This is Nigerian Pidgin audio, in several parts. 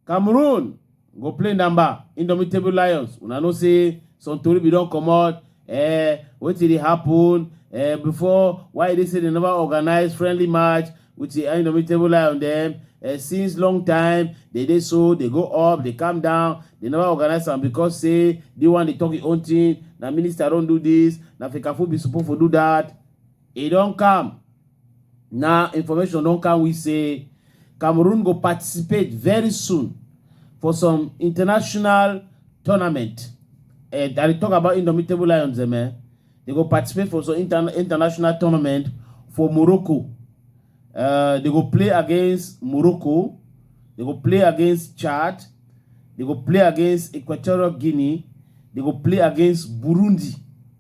cameroon go play number indomitable lions una know say some tori bin don comot eh, wetin dey happen eh, before why e dey say dem never organize friendly match with the indomitable lion dem uh, since long time they dey so they go up they calm down they never organize am because say the one dey talk him own thing na minister don do this na fikafu be suppose for do that e don come na information don come we say cameroon go participate very soon for some international tournament uh, i dey talk about indomitable lions dem eh They go participate for some inter international tournament for Morocco. Uh, they go play against Morocco. They go play against Chad. They go play against Equatorial Guinea. They go play against Burundi.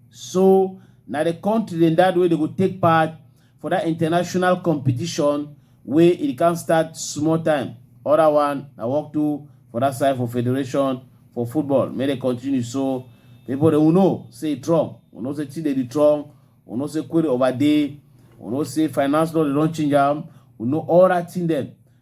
So now the country in that way they go take part for that international competition wey e can start small time other one i work too for that side for federation for football may they continue so people they will know say trump we know say chidedi trump we know say query over day we know say finance law they don't change them we know all that thing them